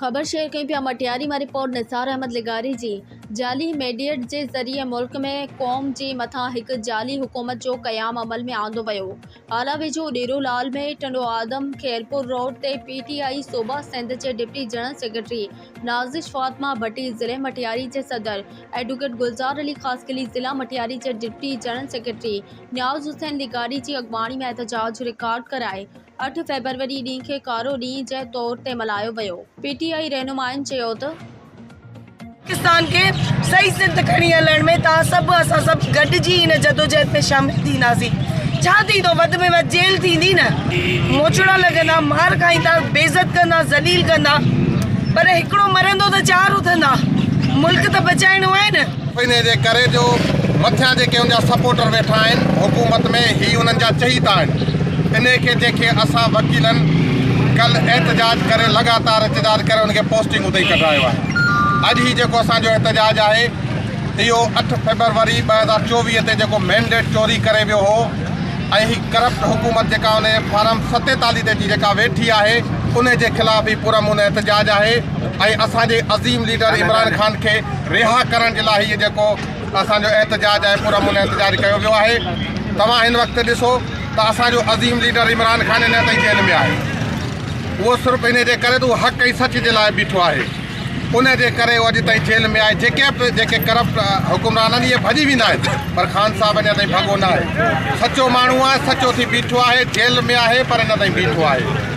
خبر شيئر ڪيون پيا مٽياري مان رپورٽ نثار احمد لغاري جي جعلي ميڊيئٽ جي ذريعي ملڪ ۾ قوم جي مٿان هڪ جعلي حڪومت جو قيام عمل ۾ آندو ويو هالا ويجهو ڏيرو لعل ۾ ٽنڊو آدم خيرپور روڊ تي پي ٽي آء صوبا سنڌ جي deputy general secretary Nazish Fatima Bhatti ضلعي مٽياري جي صدر ايڊوڪيٽ گلزار علي خاصخيلي ضلع مٽياري جي deputy general secretary Niaz Hussain لغاري جي اڳواڻي ۾ احتجاج رڪارڊ ڪرائي اٺ فيبروري ڏينهن کي ڪارو ڏينهن جي طور تي ملهايو ويو. پي ٽي آء رهنمائن چيو ته. پاڪستان کي صحيح سر تي کڻي هلڻ ۾ توهان سڀ اسان سڀ گڏجي ان جدوجهد ۾ شامل ٿينداسين. ڇا ٿيندو وڌ ۾ وڌ جيل ٿيندي نه. موچڙا لڳندا، مار کائيندا، بي عزت ڪندا، ذليل ڪندا پر هڪڙو مرندو ته چار اٿندا. ملڪ ته بچائڻو آهي نه. انهيء جي ڪري جو مٿيان جيڪي ان جا سپورٽر ويٺا آهن حڪومت ۾ هي انهن جا چهيتا آهن انهيء کي جيڪي اسان وڪيلن ڪل احتجاج ڪري لڳاتار احتجاج ڪري ان کي پوسٽنگ اتي ڪڍرايو آهي اڄ هي جيڪو اسان جو احتجاج آهي اهو اٺ فيبروري ٻه هزار چوويهه تي جيڪو مينڊيٽ چوري ڪري ويو هو ۽ هي ڪرپٽ حڪومت جيڪا ان جي فارم ستيتاليهه تي جي جيڪا ويٺي آهي انهيء جي خلاف هي پرامن احتجاج آهي ۽ اسان جي عظيم ليڊر عمران خان کي رها ڪرڻ جي لاء هي جيڪو اسان جو احتجاج آهي پر امن احتجاج ڪيو ويو آهي توهان هن وقت ڏسو ته اسان جو عظيم ليڊر عمران خان اڃا تائين جيل ۾ آهي اهو صرف ان جي ڪري ته حق ۽ سچ جي لاء بيٺو آهي ان جي ڪري اهو اڄ تائين جيل ۾ آهي جيڪي به جيڪي ڪرپٽ حڪمران آهن اهي ڀڄي ويندا آهن پر خان صاحب اڃا تائين ڀڳو نه آهي سچو ماڻهو آهي سچو ٿي بيٺو آهي جيل ۾ آهي پر اڃا تائين بيٺو آهي